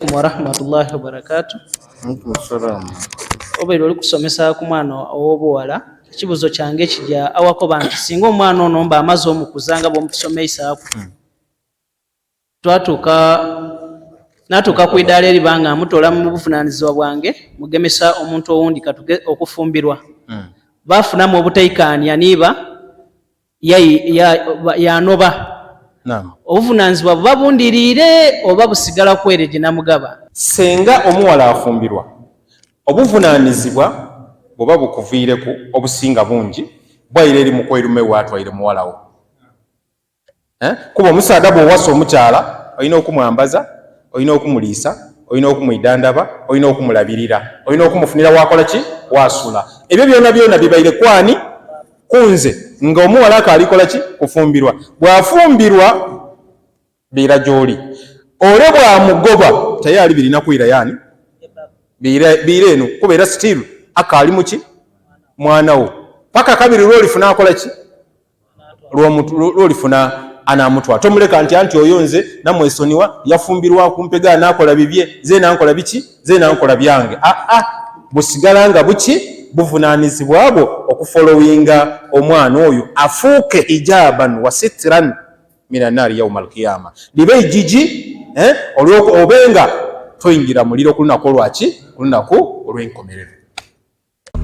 alaikum warahmatullahi wabarakatu obeera oli kusomesa ku mwana ow'obuwala ekibuzo kyange ekija awako banti singa omwana ono mba amaze omukuza nga bwomutusomeisaako hmm. twatuuka natuuka ku idaala eriba nga amutola mu buvunanyizibwa bwange mugemesa omuntu owundi katuge okufumbirwa hmm. bafunamu obutaikaania niiba yanoba obuvunanyizibwa buba bundiriire oba busigala kwere gye namugaba senga omuwala afumbirwa obuvunanyizibwa bwoba bukuviireku obusinga bungi bwaire eri mukwerume watwaire muwalawo eh? kuba omusaada bwowasa omukyala olina okumwambaza olina okumuliisa olina okumwidandaba olina okumulabirira olina okumufunira wakola ki wasula ebyo byona byona bibaire kwani kunze nga omuwala ako alikola ki kufumbirwa bwafumbirwa biira gyoli ole bwamugoba tayali birina kuira yani biira eno kuba era still aka ali muki mwana wo paka kabiri lwolifuna akola ki lwolifuna anamutwa tomuleka nti anti oyo nze namwesoniwa yafumbirwa kumpega nakola bibye ze nankola biki nze nankola byange aa ah, ah, busigala nga buki buvunanizibwa bwo okufolowinga omwana oyo afuuke hijaban wa sitiran minanaari yauma alkiyama libe ejiji eh, obenga toyingira muliro kulunaku olwaki kulunaku olwenkomerero